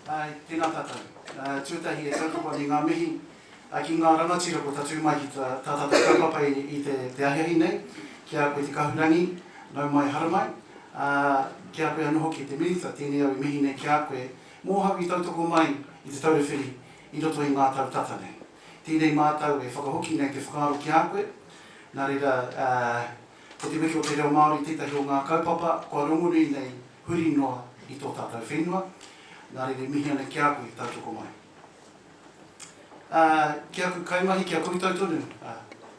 Tēnā tātou. Tuatahi e kaupapa nei ngā mihi ki ngā rangatira kua tatū mai ki tā tātou kaupapa i te ahiahi nei, ki a koe Te Kahurangi, nau mai, hara mai, ā, ki a koe anō hoki te Minita, tēnei au i mihi nei ki a koe, mōhau i tautoko mai i Te Taura Whiri i roto i ngā tau tata nei. Tēnei mātou e whakahoki nei te whakaaro ki a koe, nā reira, Ko te meke o te reo Māori tētahi o ngā kaupapa kua rongonui nei huri noa i tō tātou whenua, nā reira e mihi ana ki a koe e tautoko mai. Ā, ki aku kaimahi, ki a koutou tonu, ā,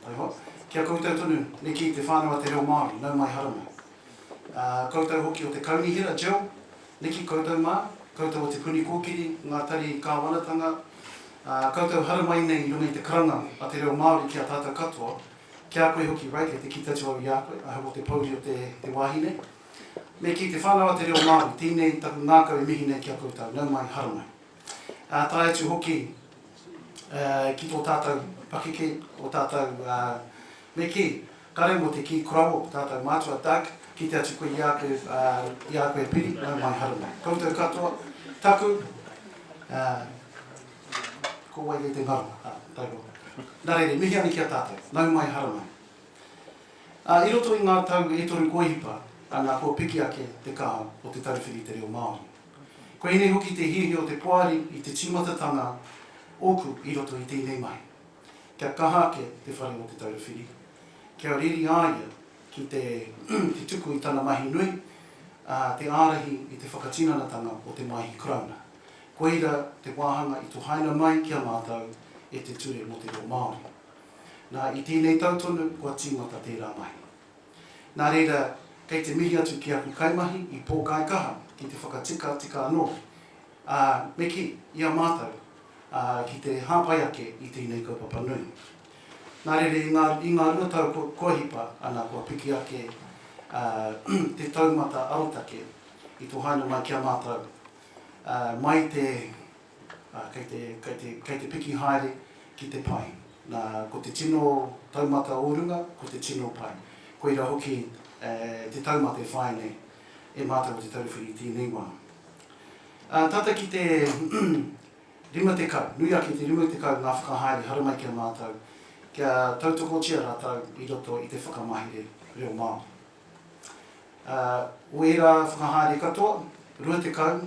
taihoa, ki a koutou tonu, neke i te whānau a te reo Māori, nau mai haramai. Ā, koutou hoki o te Kaunihera, Jill, neke koutou mā, koutou o Te Puni Kōkiri, ngā tari kāwanatanga, ā, koutou haramai nei i runga i te karanga a te reo Māori ki a tātou katoa, Ki a koe hoki, Ray, kei te kī taitū au i a koe, I hope o te pōuri o te te wāhi nei. Me kī te whānau a te reo Māori, tēnei taku ngākau e mihi nei ki a koutou, nau mai, haramai. Ā, tae atu hoki ki tō tātou pakeke, o tātou, me kī, kare mō te kī koroua o tātou mātua, Doug, kite atu koe i a koe, i a koe Piri, nau mai, haramai. Koutou katoa, taku, Ko wai kei te ngaro? Ā, taihoa. Nā reira, mihi ane ki a tātou. Nau mai, hara mai. Ā, i roto i ngā tau e toru kua hipa, ana, kua piki ake te kaha o te tauwhiri i te reo Māori. Koinei hoki te hiahia o te poari i te tīmatatanga ōku i roto i tēnei mahi. Kia kaha ake te whare o Te Taura Whiri, kia reri a ia ki te te tuku i tana mahi nui, ā, te ārahi i te whakatinanatanga o te Maihi Karauna. Koira te wāhanga i tohaina mai ki a mātou e te Ture mō te Reo Māori. Nā, i tēnei tau tonu kua tīmata tērā mahi. Nā reira, kei te mihi atu ki aku kaimahi i pōkai kaha ki te whakatikatika anō, ā, me kī, i a mātou, ā, ki te hāpai ake i tēnei kaupapa nui. Nā reira, i ngā, i ngā rua tau kua, kua hipa, ana kua piki ake, ā, te taumata arotake i tohaina mai ki a mātou, mai te, kei te, kei te, kei te piki haere ki te pai. Na, ko te tino taumata o runga, ko te tino pai. Koira hoki te taumata e whāia nei e mātou o Te Taura Whiri i tēnei wā. Tata ki te 50, nui ake i te 50 ngā whakahaere haramai ki a mātou, kia tautokotia rātou i roto i te whakamahere reo Māori. Ā, o ērā whakahaere katoa, rua tekau,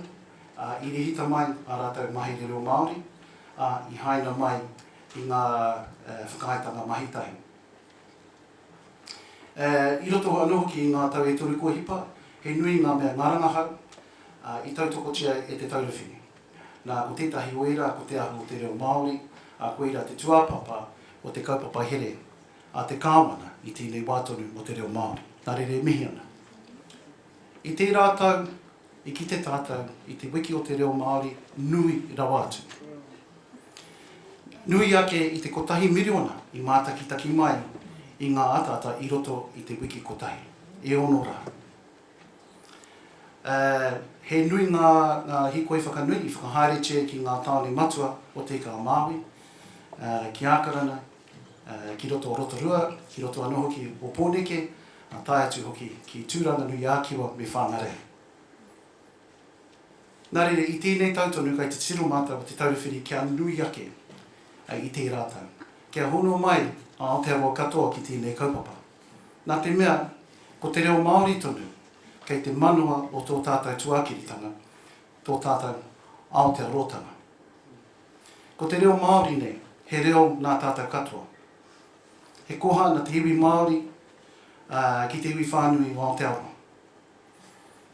ā, i rehita mai ā rātou mahere reo Māori, ā, i haina mai i ngā whakaaetanga mahi tahi. Ā, i roto anō hoki i ngā tau e toru kua hipa, he nui ngā mea, ngā rangahau, ā, i tautokotia e te taurawhine. Nā, ko tētahi o ērā ko te ahu o te reo Māori, ā, koirā te tūāpapa o te kaupapa here a te Kāwana i tēnei wā tonu mō te reo Māori. Nā reira e mihi ana. I tērā tau i kite tātou i te wiki o te reo Māori nui rawa atu. Nui ake i te kotahi miriona i mātakitaki mai i ngā ataata i roto i te wiki kotahi, e ono rā. Uh, he nui ngā, ngā hikoi whakanui i whakahaeretia ki ngā tāone matua o Te Ika a Māui, uh, ki Ākarana, ki roto o Rotorua, ki roto anō hoki o Pōneke, tae atu hoki ki Tūranganui-ā-Kiwa me Whāngarei. Nā reira, i tēnei tau tonu kai te titiro mātou o Te Taura Whiri kia nui ake i tērā tau, kia hono mai a Aotearoa katoa ki tēnei kaupapa. Nā te mea, ko te reo Māori tonu kei te manawa o tō tātou tuākiritanga, tō tātou Aotearoatanga. Ko te reo Māori nei, he reo nā tātou katoa. He koha nā te iwi Māori ki te iwi whānui o Aotearoa.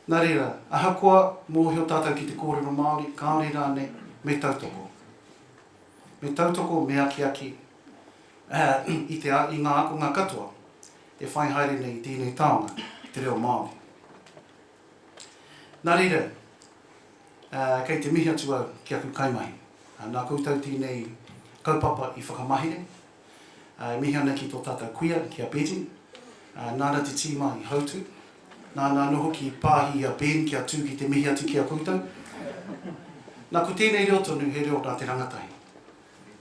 Nā reira, ahakoa mōhio tātou ki te kōrero Māori, kāore rānei, me tautoko. Me tautoko, me akiaki i ngā ākonga katoa e whai haere nei i tēnei taonga ki te reo Māori. Nā reira, kei te mihi atu au ki aku kaimahi. Nā koutou tēnei kaupapa i whakamahere. E mihi ana ki tō tātou kuia, ki a Betty. Nāna te tīma i hautū. Nāna anō hoki i pāhi i a Ben kia tū ki te mihi atu ki a koutou. Nā, ko tēnei reo tonu, he reo nā te rangatahi.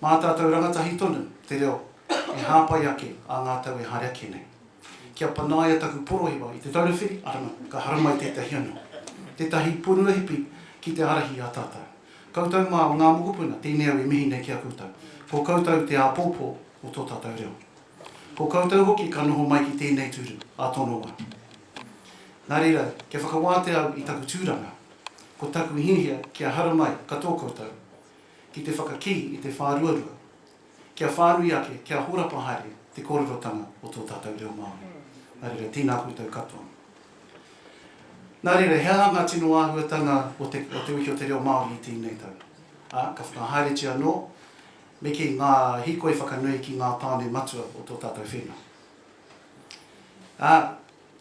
Mā tātou rangatahi tonu te reo e hāpai ake ā ngā tau e haere ake nei. Kia panaia taku porohewa i Te Taura Whiri, arama, ka haramai tētahi anō. Tētahi pūrua hipi ki te ārahi i a tātou. Koutou mā o ngā mokopuna tēnei au e mihi nei ki a koutou. Ko koutou te āpōpō o tō tātou reo. Ko koutou hoki ka noho mai ki tēnei tūru ā tono wā. Nā reira, kia whakawātea au i taku tūranga. Ko taku hiahia kia haramai katoa koutou. ki te whakakī i te whāruarua, kia whānui ake, kia horapa haere te kōrerotanga o tō tātou reo Māori. Nā reira, tēnā koutou katoa. Nā reira, he aha ngā tino āhuatanga o te, o te Wiki o te Reo Māori i tēnei tau? Ā, ka whakahaeretia anō, me kī, ngā hīkoi whakanui ki ngā tāone matua o tō tātou whenua. Ā,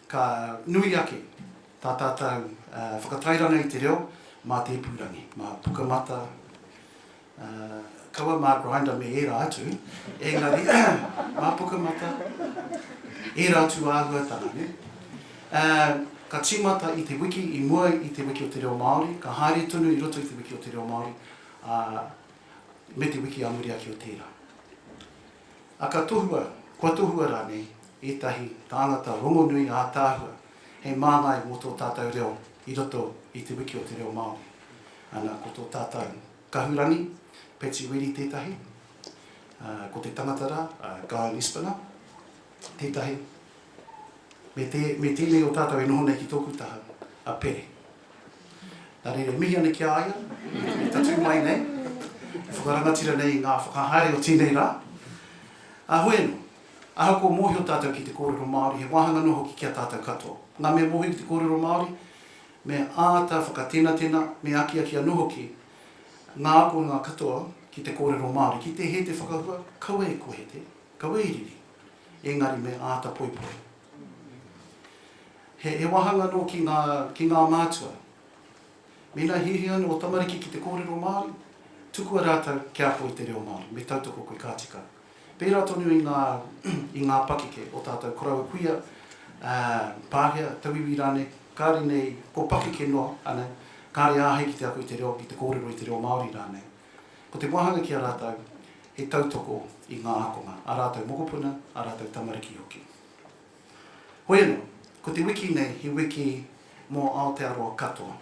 Ka nui ake tā tātou whakatairanga i te reo mā te ipurangi, mā Pukamata, kaua mā Grindr me ērā atu, engari mā Pukamata, ērā atu āhuatanga, nē. Ka tīmata i te wiki i mua i te Wiki o te Reo Māori, ka haere tonu i roto i te Wiki o te Reo Māori, ā, me te wiki ā muri ake o tērā. A ka tohua, kua tohua rānei ētahi tāngata rongonui ātaahua hei māngai mō tō tātou reo i roto i te wiki o te reo Māori? Ana, ko tō tātou kahurangi, Patsy Reedy tētahi, ko te tangata rā, Guy Lispiner. Tētahi, me te, me tēnei o tātou e noho nei ki tōku taha, a Pere. Nā reira, e mihi ana ki a ia, i tatū mai nei, i whakarangatira nei i ngā whakahaere o tēnei rā. Ā, hoi anō, ahakoa mōhio tātou ki te kōrero Māori, he wāhanga noa hoki ki a tātou katoa. Ngā mea mōhio ki te kōrero Māori, me āta whakatenatena, me akiaki anō hoki ngā akonga katoa ki te kōrero Māori. Ki te hē te whakahua, kaua e kōhete, Ka wīriri, engari me āta poipoi. He wahanga nō ki ngā, ki ngā mātua. Mēnā hiahia ana ō tamariki ki te kōrero Māori, tukua rātou kia ako i te reo Māori, me tautoko koe ka tika. Pērā tonu i ngā, i ngā pakeke, ō tātou koroua kuia, ā, pākehā, tauiwi rānei, kāore nei, ko pakeke noa, ānei, kāore āhei ki te ako i te reo, ki te kōrero i te reo Māori rānei. Ko te wāhanga ki a rātou, he tautoko i ngā ākonga, ā rātou mokopuna, ā rātou tamariki hoki. Hoi anō, ko te wiki nei he wiki mō Aotearoa katoa.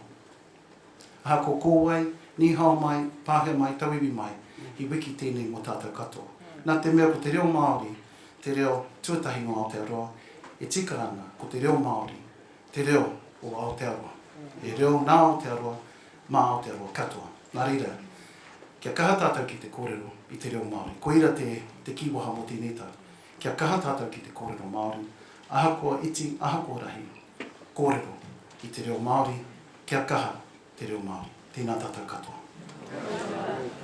Ahakoa ko wai, nīhao mai, Pākehā mai, Tauiwi mai, he wiki tēnei mō tātou katoa. Nā te mea ko te reo Māori te reo tuatahi nō Aotearoa, e tika ana ko te reo Māori te reo o Aotearoa. He reo nā Aotearoa, Mā Aotearoa katoa. Nā reira, kia kaha tātou ki te kōrero i te reo Māori. Koira te, te kīwaha mō tēnei tau. Kia kaha tātou ki te kōrero Māori, ahakoa iti, ahakoa rahi. Kōrero i te reo Māori, kia kaha te reo Māori. Tēnā tātou katoa. Tēnā koutou.